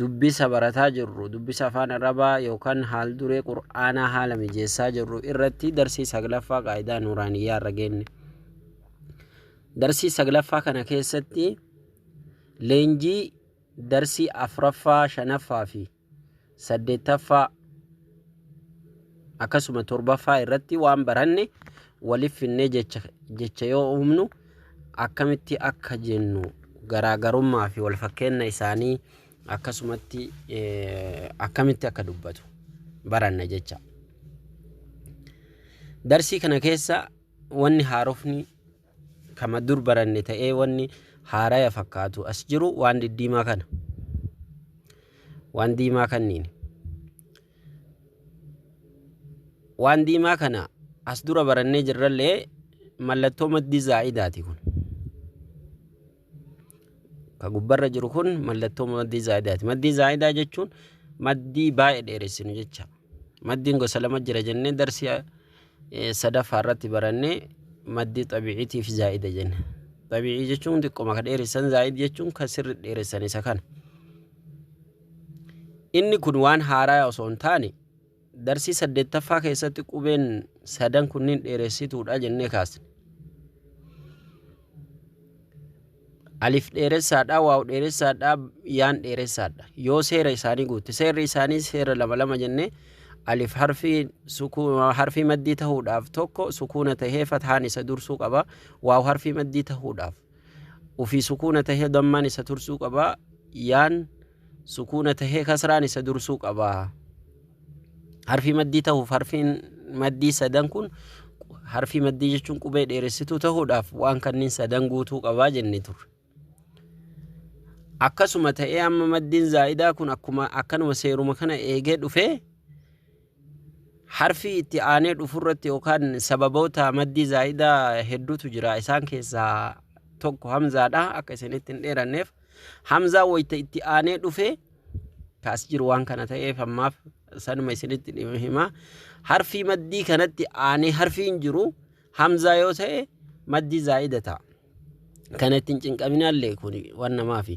Dubbisa barataa jirru, dubbisa afaan Arabaa yookaan haal-duree Qur'aanaa haala mijeessaa jirru irratti darsii saglaffaa qaayidaa nuuraaniyyaa irra geenne. Darsii saglaffaa kana keessatti leenjii darsii afraffaa, shanaffaa fi saddeettaffaa akkasuma torbaffaa irratti waan baranne waliif finnee jecha, jecha yoo uumnu akkamitti akka jennu garaagarummaa fi walfakkeenna isaanii akkasumatti akkamitti akka dubbatu baranna jecha. Darsii kana keessa wanni haarofni kama dur baranne ta'ee wanni haaraya fakkaatu as jiru waan diddiimaa kana. Waan diimaa kanniini. waan diimaa kana as dura barannee jirrallee mallattoo maddii zaa'idaati kun ka gubbarra jiru kun mallattoo maddii zaa'idaati maddii zaa'idaa jechuun maddii baay'ee dheeressinu jecha maddiin gosa lama jira jennee darsii eh, sadaffaa irratti barannee maddii xabiiciitiif zaa'ida jenna xabiicii jechuun xiqqoma ka dheeressan zaa'id jechuun ka sirri dheeressan isa kana Inni kun waan haaraya osoo hin taane, darsii saddeettaffaa keessatti qubeen sadan kunniin dheeressituudha jennee kaasne. Alif dheeressaadha, waaw dheeressaadha, yaan dheeressaadha. Yoo seera isaanii guutte, seerri isaanii seera lama lama jennee alif harfii sukuuna harfii maddii ta'uudhaaf tokko sukuuna ta'ee fataan isa dursuu qaba. Waaw harfii maddii ta'uudhaaf Ufii sukuuna tahee dammaan isa tursuu qaba. Yaan sukuuna tahee kasraan isa dursuu qaba. Harfii maddii tahuuf harfiin maddii sadan kun harfii maddii jechuun qubee dheeressituu tahuudhaaf waan kanniin sadan guutuu qabaa jenne turre. Akkasuma ta'ee amma maddiin zaa'idaa kun akkuma akkanuma seeruma kana eegee dhufee Harfii itti aanee dhufurratti yookaan sababoota maddii zaa'idaa hedduutu jira. Isaan keessaa tokko hamzaadha. Akka isinitti hin dheeranneef hamzaa wayita itti aanee dhufe kaas jiru waan kana ta'eef ammaaf sanuma isinitti dhimma hima. Harfii maddii kanatti aanee harfiin jiru hamzaa yoo ta'e maddii zaa'ida ta'a. Kana ittiin cinqaminaallee kun waan namaafi.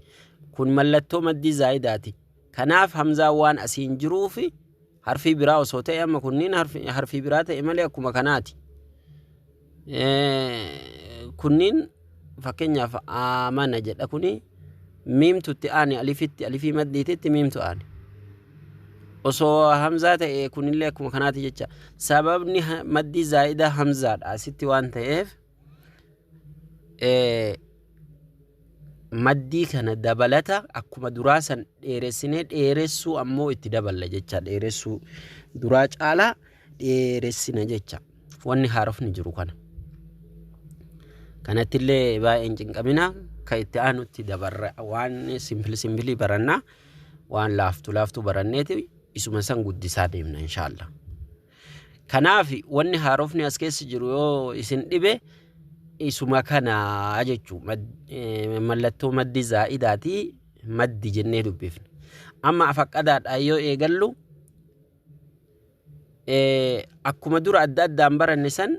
Kun mallattoo maddii zaa'idaati. Kanaaf hamzaan waan asiin jiruufi harfii biraa osoo ta'e amma kunniin harfi- harfii biraa ta'e malee akkuma kanaati. Eh, Kunniin fakkeenyaaf aamana jedha kuni miimtutti aane alifitti alifii maddiititti miimtu aane. Osoo hamzaa ta'e kunillee akkuma kanaati jecha sababni ha- maddii zaa'idaa hamzaadha asitti waan ta'eef eh, maddii kana dabalata akkuma duraa san dheeressinee dheeressuu ammoo itti daballa jecha dheeressuu duraa caalaa dheeressina jecha wanni haarofni jiru kana kanattillee baay'een cinqamina ka itti aanutti dabarra waan simpili simpilii barannaa waan laaftu laaftu baranneeti isuma san guddisaa deemna inshaallah Kanaaf wanni haarofni as keessa jiru yoo isin dhibe isuma kana jechuu mallattoo maddi zaa'idaati maddi jennee dubbifne. Amma afaqqadaadhaan yoo eegallu akkuma dura adda addaan baranne san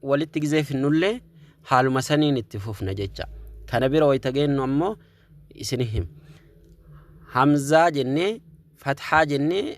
walitti gizee finnullee haaluma saniin itti fufna jecha. Kana bira wayita geennu ammoo isin him. Hamzaa jennee fathaa jennee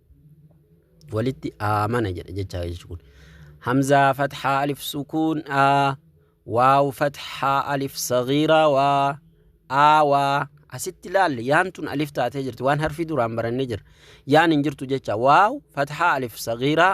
walitti aamana jedha jecha jechi kun hamzaa fathaa alif sukuun a waaw fathaa alif sagiiraa waa aa waa asitti laalle yaan tun alif taatee jirti waan harfii duraan barannee jira yaan hin jirtu jecha waaw fathaa alif sagiiraa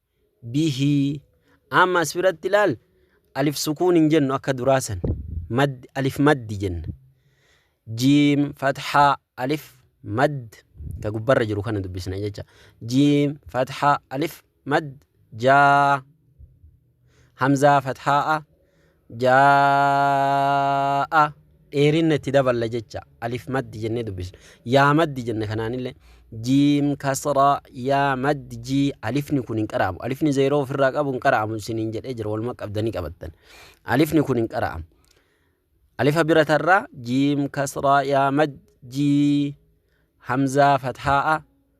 bihii Amma as biratti laal alif sukuun hin jennu akka duraa san mad alif maddi jenna jiim fathaa alif mad ka gubbarra jiru kana dubbisna jecha jiim fathaa alif mad jaa hamzaa fathaa'a jaa'a dheerinna itti daballa jecha alif maddi jennee dubbisna yaa maddi jenna kanaanillee jiim kasraa yaa maddi jii alifni kun hin qara'amu alifni zeeroo ofirraa qabu hin qara'amu isiniin jedhee jira waluma qabdanii qabattan alifni kun hin qara'amu alifa bira tarraa jiim kasraa yaa maddi jii hamzaa fathaa'a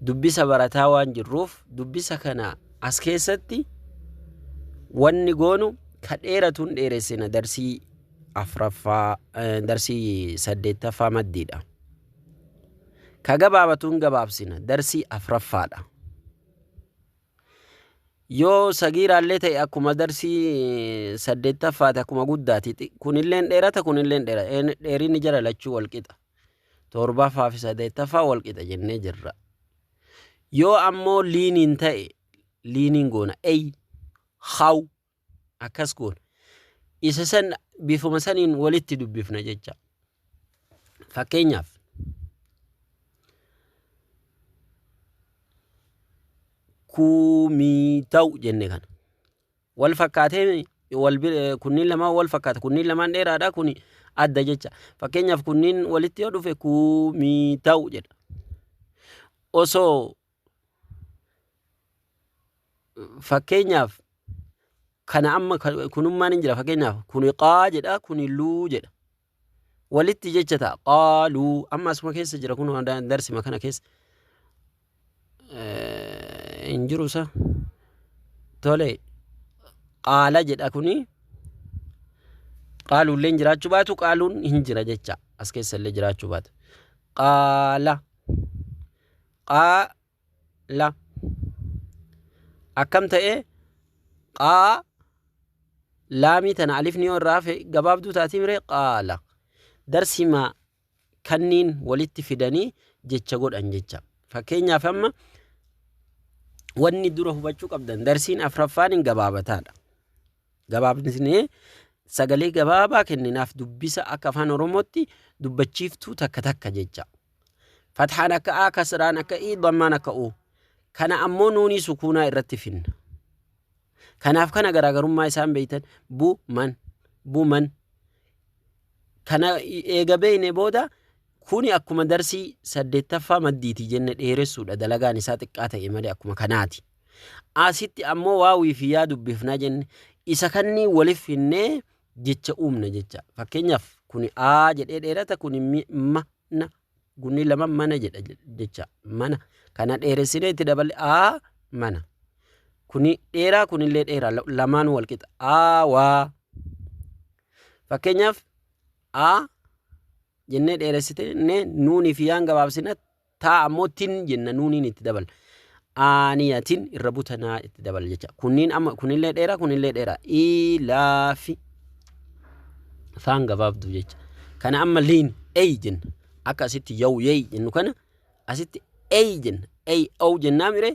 dubbisa barataa waan jirruuf dubbisa kana as keessatti wanni goonu ka dheeratuun dheeressina darsii afraffaa eh, darsii saddeettaffaa maddiidha. Ka gabaabatuun gabaabsina darsii afraffaadha. Yoo sagiiraallee ta'e akkuma darsii eh, saddeettaffaati akkuma guddaati. Xi- Kunilleen dheerata kunilleen dheerata. Een- Dheerinni jara lachuu wal qixa. torbaffaa fi sadeettaffaa wal qixa jennee jirra. Yoo ammoo liiniin ta'e liiniin goona ey haw akkas goona. Isa san bifuma saniin walitti dubbifna jecha. Fakkeenyaaf kuumii ta'u jenne kana. wal fakkaatee wal kunniin lamaan wal fakkaata kunniin lamaan dheeraadha kuni adda jecha fakkeenyaaf kunniin walitti yoo dhufe kuumii ta'u jedha osoo fakkeenyaaf kana amma kunummaan hin jira fakkeenyaaf kuni qaa jedha kuni luu jedha walitti jecha ta'a qaaluu amma asuma keessa jira kun darsima kana keessa hin jiru isa tole qaala jedha kuni qaaluullee hin jiraachuu baatu qaaluun hin jira jecha as keessa illee jiraachuu baatu qaala qaa la akkam ta'ee qaa laamii tana alifni yoo irraa hafe gabaabduu taatii miree qaala darsima kanniin walitti fidanii jecha godhan jecha fakkeenyaaf amma wanni dura hubachuu qabdan darsiin afraffaan hin gabaabataadha Gabaabsnee sagalee gabaabaa kenninaaf dubbisa akka afaan oromootti dubbachiiftuu takka takka jecha. Fathaan akka A, kasraan akka I, dammaan akka U. Kana ammoo nuunii sukuunaa irratti finna. Kanaaf kana garaagarummaa isaan beeytan bu man bu man kana eega beeyne booda kuni akkuma darsii saddeettaffaa maddiiti jenne dheeressuudha dalagaan isaa xiqqaa ta'e malee akkuma kanaati. Asitti ammoo waawii fi yaa dubbifnaa jenne. Isa kanneen walif finnee jecha uumna jecha. Fakkeenyaaf kuni A jedhee dheerata kuni mi- ma na gunni lama mana jedha je- jecha. Mana kana dheeressinee itti daballe A mana. Kuni dheeraa kunillee dheeraa la- lamaan wal qixa. A waa. Fakkeenyaaf A jennee dheeressitee nuunii fi yaan gabaabsinatti Taa ammoo tin jenna nuuniin itti dabala. Aaniyatin irra buta naa itti dabala jecha. Kunniin amma kunillee dheera kunillee dheera. Ilaafi faan gabaabdu jecha. Kana amma liin eey jenna. Akka asitti yaw yeey jennu kana asitti eey jenna. Eey ow jennaa miree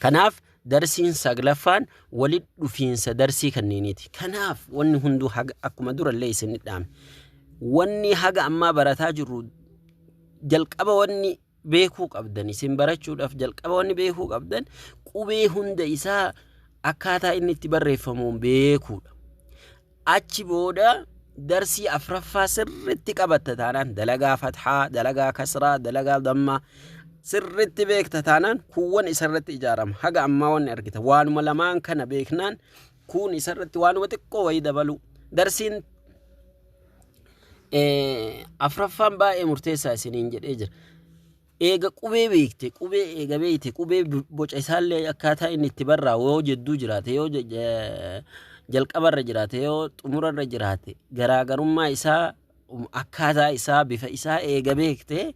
Kanaaf darsiin saglaffaan walitti dhufiinsa darsii kanneeniiti. Kanaaf wanni hunduu haga akkuma durallee isin dhaame. Wanni haga ammaa barataa jirru jalqaba wanni beekuu qabdan isin barachuudhaaf jalqaba wanni beekuu qabdan qubee hunda isaa akkaataa inni itti barreeffamuun beekuudha. Achi booda darsii afraffaa sirritti qabatta taanaan dalagaa fathaa, dalagaa kasraa, dalagaa dammaa sirritti beekta taanaan kuuwwan isarratti ijaarama. Haga ammaa wanni argita. Waanuma lamaan kana beeknaan kuun isarratti waanuma xiqqoo wayii dabaluu. Darsiin afraffaan baay'ee murteessaa isiniin jedhee jira. Eega qubee beekte, qubee eega beekte, qubee boca isaallee akkaataa inni itti barraa'u yoo jedduu jiraate, yoo jalqabarra jiraate, yoo xumurarra jiraate, garaagarummaa isaa, akkaataa isaa, bifa isaa eega beekte,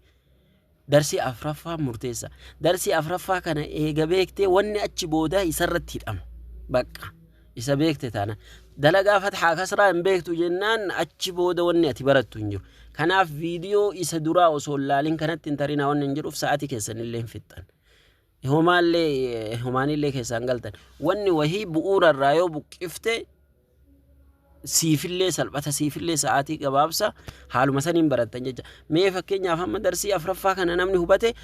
darsii afraffaa murteessa. Darsii afraffaa kana eega beekte, wanni achi boodaa isarratti hidhama. Bakka. Isa beekte taanaan. Dalagaa fathaa kasraa hin beektu jennaan achi booda wanni ati barattu hin jiru. Kanaaf viidiyoo isa duraa osoo hin laalin kanatti hin tarinaa wanni hin jiruuf sa'aatii keessan illee hin fixxan. Homaallee homaanillee keessaan galtan. Wanni wahii bu'uura irraa yoo buqqifte siifillee salphata siifillee sa'aatii gabaabsa haaluma saniin barattan jecha. Mee fakkeenyaaf amma darsii afraffaa kana namni hubate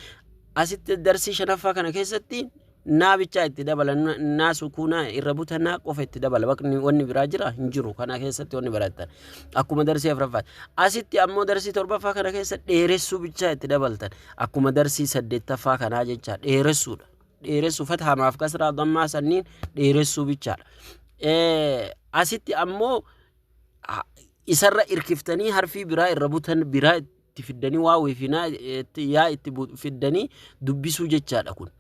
asitti darsii shanaffaa kana keessatti naa bichaa itti dabala na- naa sukuuna irra buta naa qofa itti dabala bakni wanni biraa jira hin jiru kana keessatti wanni barattan akkuma darsii afraffaa asitti ammoo darsii torbaffaa kana keessa dheeressuu bichaa itti dabaltan akkuma darsii saddeettaffaa kanaa jecha dheeressuudha dheeressuu fatahamaaf kasraa dammaa sanniin dheeressuu bichaadha Eh, asitti ammoo ha- isarra irkiftanii harfii biraa irra butan biraa itti fiddanii waa wiifinaa yaa itti fiddanii dubbisuu jechaadha kun.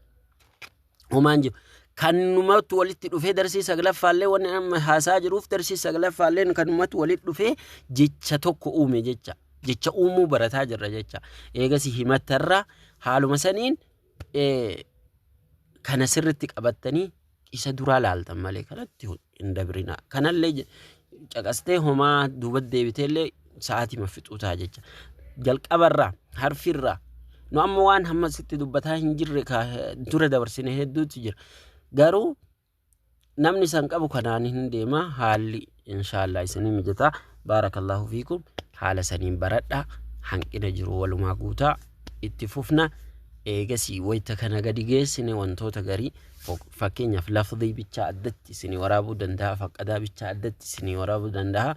Homaan jiru. Kanumatu walitti dhufee darsii saglaffaallee wanni amma haasaa jiruuf darsii saglaffaallee kanumatu walitti dhufee jecha tokko uume jecha. Jecha uumuu barataa jirra jecha. Eegas himattarra haaluma saniin kana sirritti qabattanii isa duraa laaltan malee kanatti hin dabrinaa. Kanallee je- caqastee homaa duuba deebiteellee sa'aatii ma fixuu ta'a jecha. Jalqabarraa, harfirraa, nu amma waan hamma sitti dubbataa hin jirre ka dura dabarsine hedduutu jira. Garuu namni san qabu kanaan hin deema haalli inshaallah isinii mijataa baarakallahu fiikum haala saniin baradha hanqina jiru walumaa guutaa itti fufna eegasii wayta kana gadi geessine wantoota garii fakkeenyaaf lafdii bichaa addatti isinii waraabuu danda'a faqqadaa bichaa addatti isinii waraabuu danda'a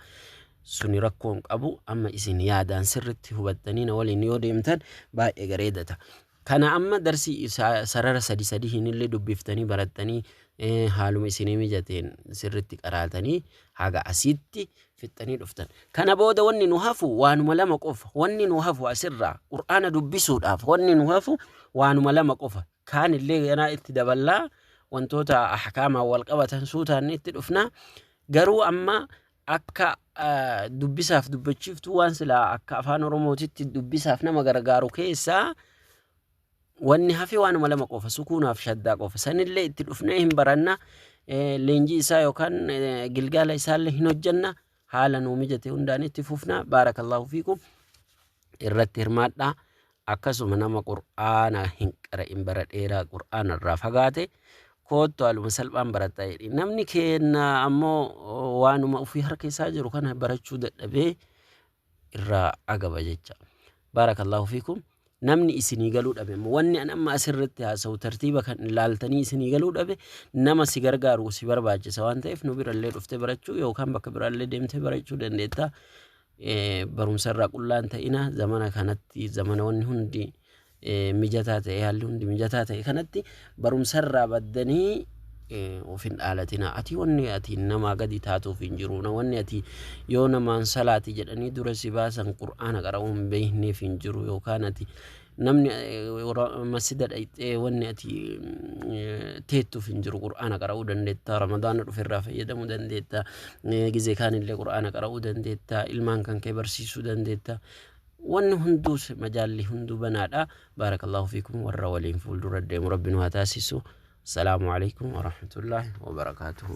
suni rakkoon qabu amma isin yaadaan sirritti hubattanii na waliin yoo deemtan baay'ee gareedata Kana amma darsi sarara sadi sadihiinillee dubbiftanii barattanii haaluma isinii mijateen sirritti qaraatanii haga asitti fixxanii dhuftan. Kana booda wanni nu hafu waanuma lama qofa. Wanni nu hafu asirraa Qur'aana dubbisuudhaaf wanni nu hafu waanuma lama qofa. Kaanillee ganaa itti daballaa wantoota ahkaamaan wal qabatan suutaan itti dhufna. Garuu amma akka dubbisaaf dubbachiiftuu waan silaa akka afaan oromootitti dubbisaaf nama gargaaru keessaa wanni hafe waanuma lama qofa sukuunaaf shaddaa qofa sanillee itti dhufnee hin baranna eh, leenjii isaa yookaan eh, gilgaala isaallee hin hojjanna haala nuu mijate hundaan itti fufna baarakallahu fiikum irratti hirmaadhaa Akkasuma nama Qur'aana hin qara'in bara dheeraa Qur'aana irraa fagaate koottu haaluma salphaan baradhaa jedhiin. Namni keenna ammoo waanuma ofii harka isaa jiru kana barachuu dadhabee irraa agaba jecha. Baarakallahu fiikum. Namni isinii galuu dhabe immoo wanni an amma asirratti haasa'u tartiiba kan ilaaltanii isinii galuu dhabe nama si gargaaru si barbaachisa waan ta'eef nu birallee dhuftee barachuu yookaan bakka biraallee deemtee barachuu dandeetta. barumsa irraa qullaa hin ta'ina zamana kanatti zamanoonni hundi mijataa ta'e haalli hundi mijataa ta'e kanatti barumsa irraa baddanii of hin dhaalatina ati wanni ati namaa gadi taatuuf hin jiru na wanni ati yoo namaan salaati jedhanii dura si baasan qur'aana qara'uu hin beekneef hin jiru yookaan ati namni masjida dhayxee wanni ati teettuuf hin jiru qur'aana qara'uu dandeetta ramadaana dhufe irraa fayyadamuu dandeetta gizee kaanillee qur'aana qara'uu dandeetta ilmaan kan kee barsiisuu dandeetta wanni hunduus majaalli hunduu banaadha baarakallahu fiikum warra waliin fuuldura deemu rabbi nu haa taasisu salaamu alaikum warahmatullaahi wabarakaatuhu